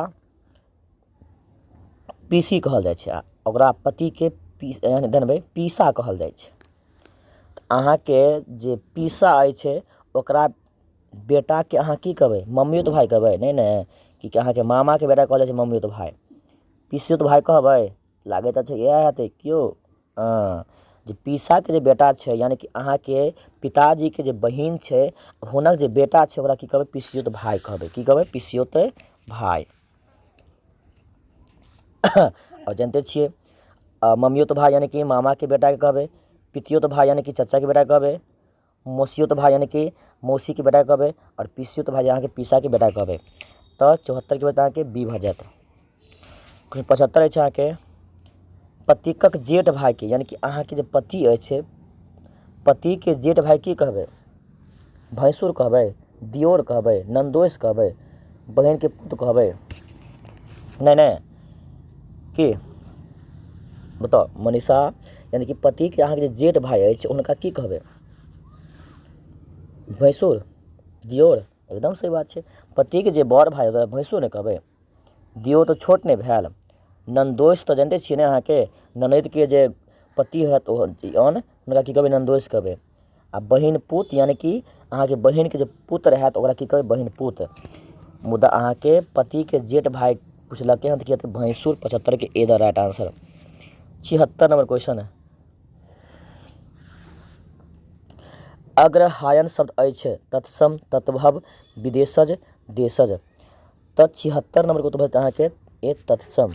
पीसी कहल जाइ छै आ ओकरा पतिके पी यानि जनबै पीसा कहल जाइ छै तऽ अहाँके जे पीसा अछि ओकरा बेटाके अहाँ की कहबै मम्मियोत भाय कहबै नहि ने कि कि अहाँके मामाके बेटा कहल जाइ छै मम्मियोत भाय पीसियोत भाय कहबै लागैत अछि इएह हेतै कि यौ हँ जे पीसाके जे बेटा छै यानि कि अहाँके पिताजीके जे बहिन छै हुनक जे बेटा छै ओकरा की कहबै पिसियोत भाय कहबै की कहबै पिसियोत भाय आओर जानिते छियै मम्मियोत भाय यानि कि मामाके बेटाके कहबै पितियोत भाय यानि कि चचाके बेटाके कहबै मौसियोत भाय यानि कि मौसीके बेटा कहबै आओर पिसियोत भाय अहाँके पिसाके बेटा कहबै तऽ चौहत्तरके बाद अहाँके बी भऽ जायत क्वेश्चन पचहत्तर अछि अहाँके पतिकक जेठ भायके यानि कि अहाँके जे पति अछि पतिके जेठ भाय की कहबै भैंसुर कहबै दियोर कहबै नन्दोसि कहबै बहिनके पुत कहबै नहि नहि की बताउ मनीषा यानि कि पतिके अहाँके जे जेठ भाय अछि हुनका की कहबै भैंसुर दियोर एकदम सही बात छै पतिके जे बड़ भाय ओकरा भैंसुर ने कहबै दियोर तऽ छोट नहि भेल नन्दोसि तऽ जानिते छियै ने अहाँके ननदिके जे पति हत ओ अन हुनका की कहबै नन्दोसि कहबै आ बहिन पुत यानि कि अहाँके बहिनके जे पुत्र हैत ओकरा की कहबै बहिन पुत मुदा अहाँके पतिके जेठ भाय पुछलकै हन तऽ की हेतै भैंसुर पचहत्तरके ए द राइट आंसर छिहत्तर नंबर क्वेश्चन है अग्रहायन शब्द अछि तत्सम तत्भव विदेशज देशज तऽ छिहत्तर नंबरके उत्तर भेटत अहाँके ए तत्सम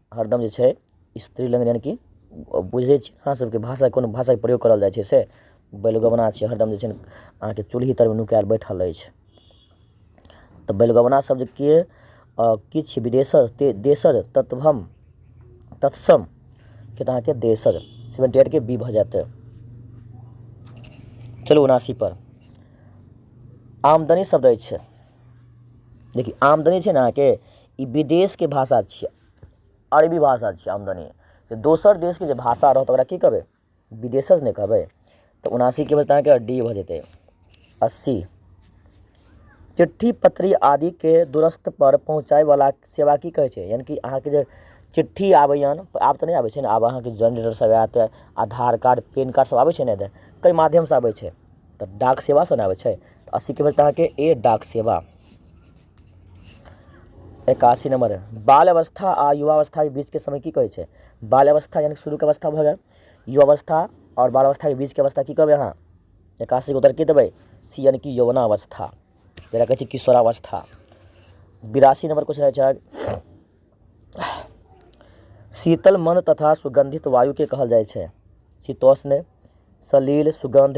हरदम जे छै स्त्री लग यानि कि बुझै छी अहाँ सबके भाषा कोनो भाषाके प्रयोग करल जाइ छै से बैलगवना छै हरदम जे छै ने अहाँके चुल्ही तरमे नुकाएल बैठल अछि तऽ बैलगवना शब्द के अ, किछु विदेशज ते- देशज तत्वम तत्सम के तऽ अहाँके देशज सेवेंटी एट के बी भऽ जायत चलू उनासी पर आमदनी शब्द अछि देखिए आमदनी छै ने अहाँके ई विदेशके भाषा छियै अरबी भाषा छियै आमदनी तऽ दोसर देशके जे भाषा रहत ओकरा की कहबै विदेशज ने कहबै तऽ उनासीके बदला अहाँके डी भऽ जेतै अस्सी चिट्ठी पत्री आदिके दूरस्थ पर पहुँचायवला सेवा की कहै छै यानि कि अहाँके जे चिट्ठी आबैए आब तऽ नहि आबै छै ने आब अहाँके जनरेटर सब आयत आधार कार्ड पेन कार्ड सब आबै छै ने तऽ कई माध्यमसँ आबै छै तऽ डाक सेवासँ ने आबै छै तऽ अस्सीके बदला अहाँके ए डाक सेवा एकासी नंबर है बाल अवस्था आ युवा अवस्था के बीच के समय की कहै छै बाल अवस्था यानी शुरू के अवस्था भऽ गेल युवा अवस्था और बाल अवस्था के बीच के अवस्था की कहबै अहाँ एकासी के उत्तर की देबै सी यानी कि यौवना अवस्था जकरा कहै छै किशोरावस्था बिरासी नंबर क्वेश्चन रहै छै शीतल मंद तथा सुगंधित वायु के कहल जाइ छै शीतोष्ण सलील सुगंध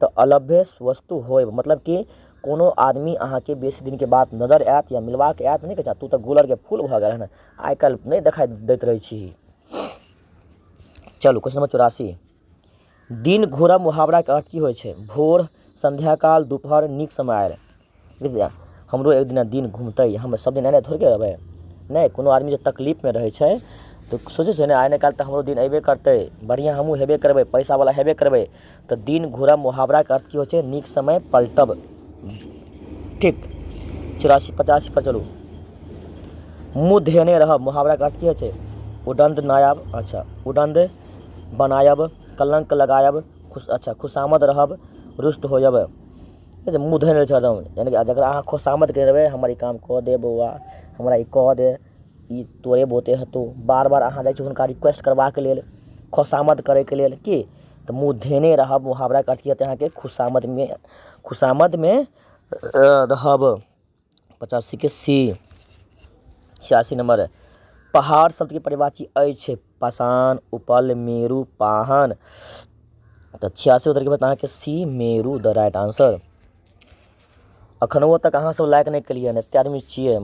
तऽ अलभ्य वस्तु होय मतलब कि कोनो आदमी अहाँके बेसी दिनके बाद नजर आयत या मिलबाक आयत नहि कहै छै तू तऽ गुलरके फूल भऽ गेल हेँ आइ काल्हि नहि देखाइ दैत रहै छी चलू क्वेश्चन नंबर चौरासी दिन घोरा मुहावराके अर्थ की होइ छै भोर संध्याकाल दुपहर नीक समय आयल बुझलियै हमरो एक दिना दिन घुमतै हम सब दिन एने थोड़े के रहबै नहि कोनो आदमी जे तकलीफ मे रहै छै तऽ सोचै छै ने आइ नहि काल्हि तऽ हमरो दिन अयबे करतै बढ़िऑं हमहुँ हेबे करबै पैसा बला हेबे करबै तऽ दिन घूरा मुहाबरा के अर्थ की होइ छै नीक समय पलटब ठीक चौरासी पचासी पर चलू मुँह धेने रहब मुहाबरा के अर्थ की होइ छै उदण्ड नायब अच्छा उदण्ड बनायब कलंक लगायब खुश अच्छा खुशामद रहब रुष्ट होयब जे मुँह धोने रहै छै हरदम यानि कि जकरा अहाँ खोसामद कयने रहबै हमर ई काम कऽ दे बौआ हमरा ई कऽ दे ई तोरे बुते हेतौ बार बार अहाँ जाइ छियै हुनका रिक्वेस्ट करबाक लेल खोसामद करयके लेल की तऽ मुँह धयने रहब मुहावराके अर्थ ई हेतै अहाँके खुशामदमे खुशामदमे रहब पचासीके सी छियासी नम्बर पहाड़ शब्दके परिभाषी अछि पाषाण उपल मेरु पाहन तऽ छियासी उत्तरके बाद अहाँके C Meru the right answer अखनो तक अहाँसभ लाइक नहि केलियै हन एतेक आदमी छियै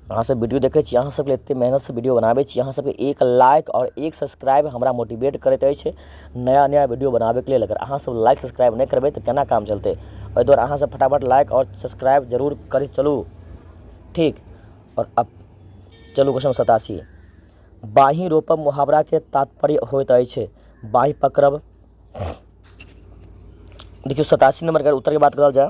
अहाँ सब वीडियो देखै छी अहाँ सबके एते मेहनत से वीडियो बनाबै छी अहाँ सबके एक लाइक आओर एक सब्सक्राइब हमरा मोटिवेट करैत अछि नया नया वीडियो बनाबैके लेल अगर अहाँ सब लाइक सब्सक्राइब नहि करबै तऽ केना काम चलतै एहि दुआरे अहाँ सब फटाफट लाइक आओर सब्सक्राइब जरूर करैत चलू ठीक आओर अब चलू क्वेश्चन सतासी बाँहि रोपब मुहावराके तात्पर्य होइत अछि बाँहि पकड़ब देखियौ सतासी नंबरके उत्तरके बात करल जाय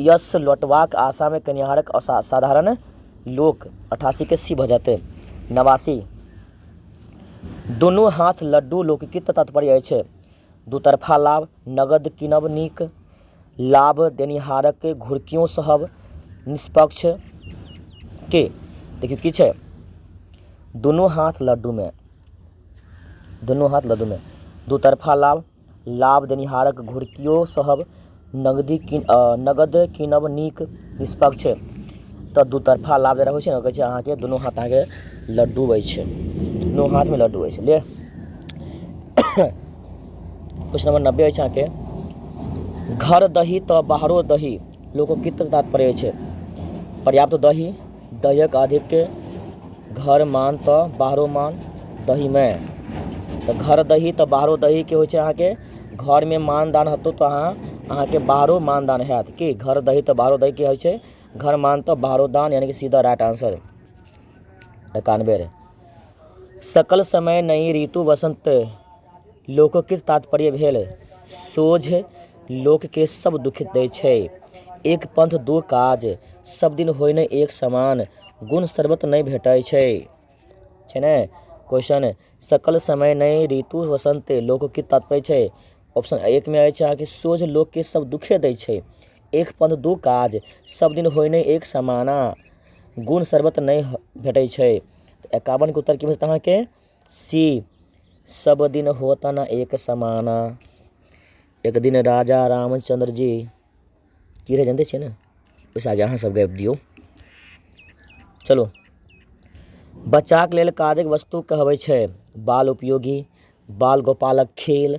यश लौटबाक आशामे केनिहारक असा साधारण लोक अठासीके सी भऽ जेतै नवासी दुनू हाथ लड्डू लोकके तऽ तात्पर्य अछि दूतरफा लाभ नगद किनब नीक लाभ देनिहारक घुड़कियों सहब निष्पक्ष के देखियौ की छै दुनू हाथ लड्डूमे दुनू हाथ लड्डूमे दूतरफा लाभ लाभ देनिहारक घुड़कियो सहब नगदी कीन नगद कीनब नीक निष्पक्ष तऽ दू तरफा लाभ जेना होइ छै ने कहै छै अहाँके दुनू हाथ अहाँके लड्डू होइ छै दुनू हाथमे लड्डू होइ छै ले क्वेश्चन नंबर नब्बे होइ छै अहाँके घर दही तऽ बाहरो दही लोकगीत तात्पर्य छै पर्याप्त दही दहीक अधिक घर मान तऽ बाहरो मान दहीमे तऽ घर दही तऽ बाहरो दहीके होइ छै अहाँके घरमे मान दान हेतौ तऽ अहाँ अहाँके बाहरो मान दान हैत कि घर दही तऽ बाहरो दहीके होइ छै घर मान तऽ बाहरो दान यानि कि सीधा राइट आन्सर एकानबे सकल समय नहि ऋतु वसन्त लोकके तात्पर्य भेल सोझ लोकके सब दुख दै छै एक पंथ दो काज सब दिन होइ ने एक समान गुण सर्वत नहि भेटै छै छै ने क्वेश्चन सकल समय नहि ऋतु वसंत लोकके तात्पर्य छै ऑप्शन एक में अछि अहाँके सोझ लोकके सब दुखे दै छै एक पंथ दो काज सब दिन होइ नहि एक समाना गुण सर्वत नहि ह- भेटै छै एकावन के उत्तर की भेटत अहाँके सी सब दिन होता ना एक समाना एक दिन राजा रामचंद्र जी की रह जानते छियै ने ओहिसँ आगे अहाँ सब गाबि दियौ चलो बच्चाक लेल काजक वस्तु कहबै छै बाल उपयोगी बाल गोपालक खेल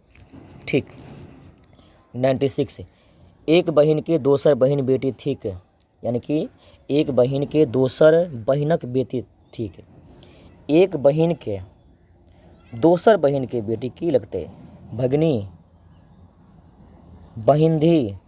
ठीक नाइन्टी सिक्स एक बहिनके दोसर बहिन बेटी थिक यानि कि एक बहिनके दोसर बहिनक बेटी थिक एक बहिनके दोसर बहिनके बेटी की लगतै भगिनी बहिनधी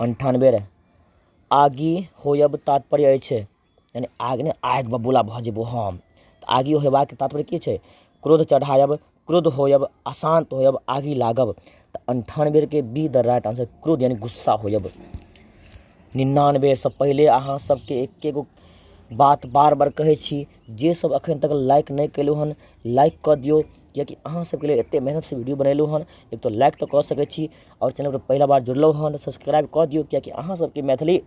अन्ठानबे रहै आगि होयब तात्पर्य अछि यानि आगि नहि आगि बबूला भऽ जेबौ हम तऽ आगि होयबाक तात्पर्य की छै क्रोध चढ़ायब क्रोध होयब अशान्त होयब आगि लागब तऽ अन्ठानबेके बी द राइट आन्सर क्रोध यानि गुस्सा होयब निनानबेसँ पहिले अहाँ सभके एके गो बात बार बार कहै छी जेसभ एखन तक लाइक नहि कयलहुँ हन लाइक कऽ दियौ किएकि अहाँसभके लेल एतेक मेहनतिसँ वीडिओ बनेलहुँ हँ एक तऽ लाइक तऽ कऽ सकै छी आओर चैनलपर पहिला बेर जुड़लहुँ हँ तऽ सब्सक्राइब कऽ दिऔ किएकि अहाँसभके मैथिली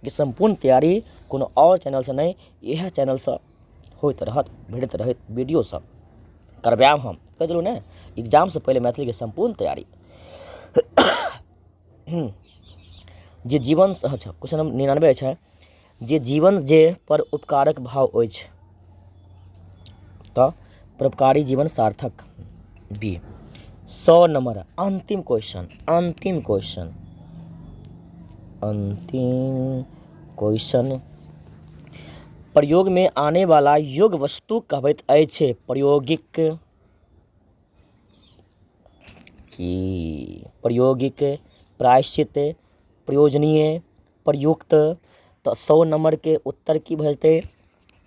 के सम्पूर्ण तैआरी कोनो आओर चैनलसँ नहि इएह चैनलसँ होइत रहत भेटैत रहत वीडिओसब करबाएब हम कहि देलहुँ ने एग्जामसँ पहिले मैथिलीके सम्पूर्ण तैआरी जे जीवन अच्छा क्वेश्चन नम्बर निनानबे छै जे जीवन जे पर उपकारक भाव अछि तऽ परोपकारी जीवन सार्थक बी सौ नंबर अंतिम क्वेश्चन अंतिम क्वेश्चन अंतिम क्वेश्चन प्रयोग में आने वाला योग वस्तु कहबैत अछि प्रयोगिक की प्रयोगिक प्रायश्चित प्रयोजनीय प्रयुक्त तऽ सए नम्बरके उत्तर की भऽ जेतै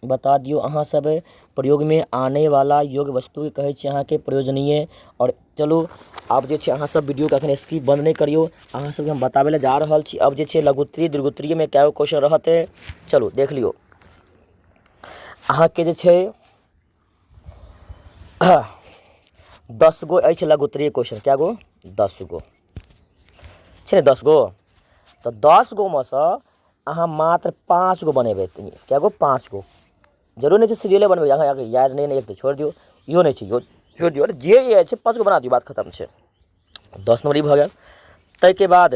बता दियौ अहाँ सब प्रयोगमे आनै बला योग वस्तु कहै छी अहाँके प्रयोजनीय आओर चलू आब जे छै अहाँ सब वीडियोके अखन स्किप बन्द नहि करियौ अहाँ सबके हम बताबै लए जा रहल छी अब जे छै लघुत्तरी दीर्घोत्तरीमे कए गो क्वेश्चन रहतै चलू देख लियौ अहाँके जे छै दस गो अछि लगोतरे क्वेश्चन कए गो दस गो छै ने दस गो तऽ दस गोमे सँ अहाँ मात्र पाँच गो बनेबै कए गो पाँच गो जरूर नहि छै सीरियले बनबै अहाँ अगर याद नहि ने तऽ छोड़ि दियौ इहो नहि छै इहो छोड़ि दियौ जे याद छै पाँच गो बना दियौ बात खतम छै दस नम्बर ई भऽ गेल ताहिके बाद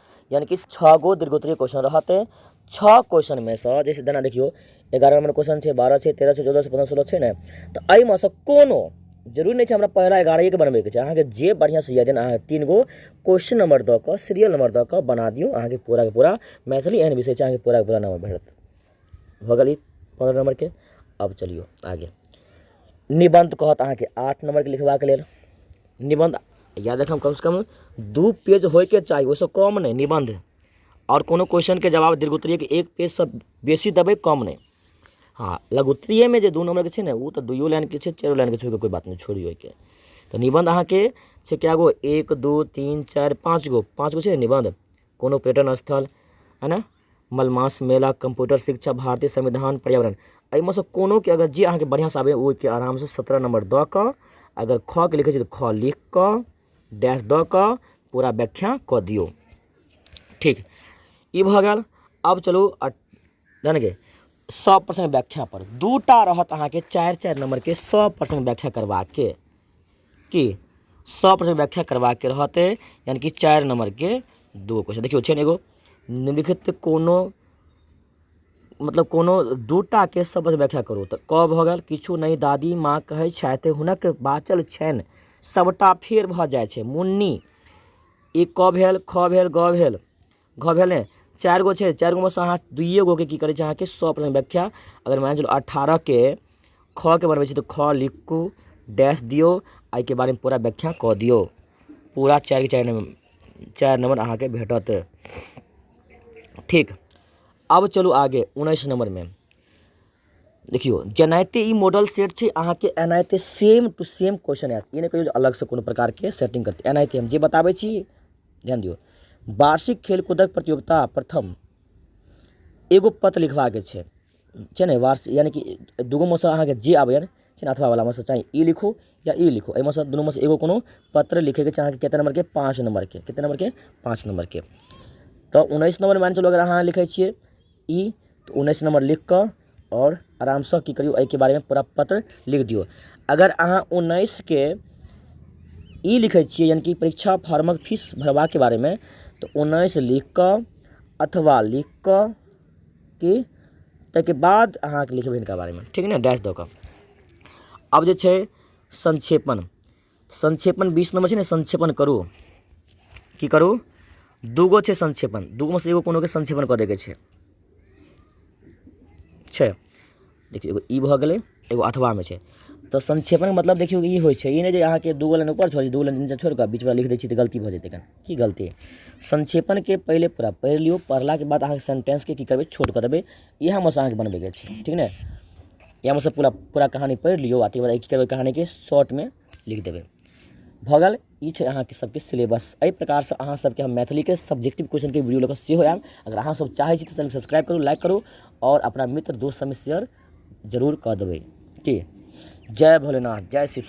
यानि कि छओ गो दीर्घोत्तरीय क्वेश्चन रहत छओ क्वेश्चनमे सँ जैसे जेना देखियौ एगारह नम्बर क्वेश्चन छै बारह छै तेरह छै चौदह छै पन्द्रह सोलह छै ने तऽ एहिमे सँ कोनो जरूरी नहि छै हमरा पहिला एगारहके बनबैके छै अहाँके जे बढ़िआँसँ यए जेना अहाँ तीन गो क्वेश्चन नम्बर दऽ कऽ सीरियल नम्बर दऽ कऽ बना दियौ अहाँके पूराके पूरा मैथिली एहन विषय छै अहाँके पूराके पूरा नम्बर भेटत भऽ गेल ई पनरह नम्बरके आब चलियौ आगे निबन्ध कहत अहाँके आठ नम्बरके लिखबाक लेल निबन्ध याद राखब कमसँ कम दू पेज होइके चाही ओइसँ कम नहि निबन्ध आओर कोनो क्वेश्चनके जवाब दीर्घोत्तरीयेके एक पेजसँ बेसी देबै कम नहि हँ लघुत्तरीयेमे जे दू नम्बरके छै ने उ तऽ दुइयो लाइनके छै चाइरो लाइनके छै ओइके कोइ बात नहि छोड़ियौ ओइके तऽ निबन्ध अहाँके छै कए गो एक दू तीन चारि पाँच गो पाँच गो छै ने निबन्ध कोनो पर्यटन स्थल है ने मलमास मेला कम्प्यूटर शिक्षा भारतीय संविधान पर्यावरण एहिमे सँ कोनो के अगर जे अहाँके बढ़िआँ सँ आबैए ओहिके आराम सँ सत्रह नम्बर दऽ कऽ अगर खऽ के लिखै छियै तऽ खऽ लिख कऽ डैश दऽ कऽ पूरा व्याख्या कऽ दियौ ठीक ई भऽ गेल आब चलू अठ जानि गेल सए प्रश्न व्याख्या पर दू टा रहत अहाँके चारि चारि नम्बरके सए प्रश्न व्याख्या करबाके की सए प्रश्न व्याख्या करबाके रहतै यानि कि चारि नम्बरके दू क्वेश्चन देखियौ छै ने एगो निम्नलिखित कोनो मतलब कोनो दू टाके शब्द व्याख्या करू तऽ क भऽ गेल किछु नहि दादी माँ कहै छथि हुनक बाँचल छनि सभटा फेर भऽ जाइ छै मुन्नी ई क भेल ख भेल ग भेल घ भेल ने चारि गो छै चारि गोमेसँ अहाँ दुइए गोके की करै छै अहाँके सए परसेंट व्याख्या अगर मानि कऽ चलू अठारहके खके बनबै छी तऽ ख लिखू डैश दियौ आ एहिके बारेमे पूरा व्याख्या कऽ दियौ पूरा चारिके चारि नम्बर चारि नम्बर अहाँके भेटत ठीक आब चलू आगे उन्नैस नम्बरमे देखियौ जेनाहिते ई मॉडल सेट छै अहाँके एनाहिते सेम टू सेम क्वेश्चन आयत ई नहि कहियौ जे अलगसँ कोनो प्रकारके सेटिंग करतै एनाहिते हम जे बताबै छी ध्यान दियौ वार्षिक खेलकूदक प्रतियोगिता प्रथम एगो पत्र लिखबाके छै छै ने वार्स यानि कि दूगो मे सँ अहाँके जे आबैए छै ने अथवा बलामे सँ चाहे ई लिखू या ई लिखू एहिमे सँ दुनूमे सँ एगो कोनो पत्र लिखैके छै अहाँके कतेक नम्बरके पाँच नम्बरके कतेक नम्बरके पाँच नम्बरके तऽ उन्नैस नम्बर मानि कऽ चलू अगर अहाँ लिखै छियै ई तऽ उन्नैस नम्बर लिखि कऽ आओर आरामसँ की करियौ एहिके बारेमे पूरा पत्र लिखि दियौ अगर अहाँ उन्नैसके ई लिखै छियै यानि कि परीक्षा फॉर्मक फीस भरबाके बारेमे तऽ उन्नैस लिखि कऽ अथवा लिखि कऽ कि ताहिके बाद अहाँ लिखबै हिनका बारेमे ठीक ने डैश दऽ कऽ आब जे छै संक्षेपण संक्षेपण बीस नम्बर छै ने संक्षेपण करू की करू दूगो छै संक्षेपण दूगोमे सँ एगो कोनोके संक्षेपण कऽ दैके छै छै देखियौ एगो ई भऽ गेलै एगो अथवामे छै तऽ संक्षेपणके मतलब देखियौ ई होइ छै ई नहि जे अहाँके दू गो लाइन ऊपर छोड़ि दू गो लाइन नीचाँ छोड़ि कऽ बीचमे लिखि दै छी तऽ गलती भऽ जेतै कनि की गलती संक्षेपणके पहिले पूरा पढ़ि लियौ पढ़लाके बाद अहाँके सेंटेंसके की करबै छोट कऽ देबै इएह हमरासँ अहाँके बनबैके छै ठीक ने इएह हमरासँ पूरा पूरा कहानी पढ़ि लियौ आ तकर बाद की करबै कहानीके शॉर्टमे लिख देबै भऽ गेल ई छै अहाँके सभके सिलेबस एहि प्रकारसँ अहाँ सभके हम मैथिलीके सब्जेक्टिव क्वेश्चनके वीडियो लऽ कऽ सेहो आयब अगर अहाँ सभ चाहै छी तऽ चैनल सब्सक्राइब करू लाइक करू आओर अपना मित्र दोस्त सभमे शेयर जरूर कऽ देबै की जय भोलेनाथ जय शिव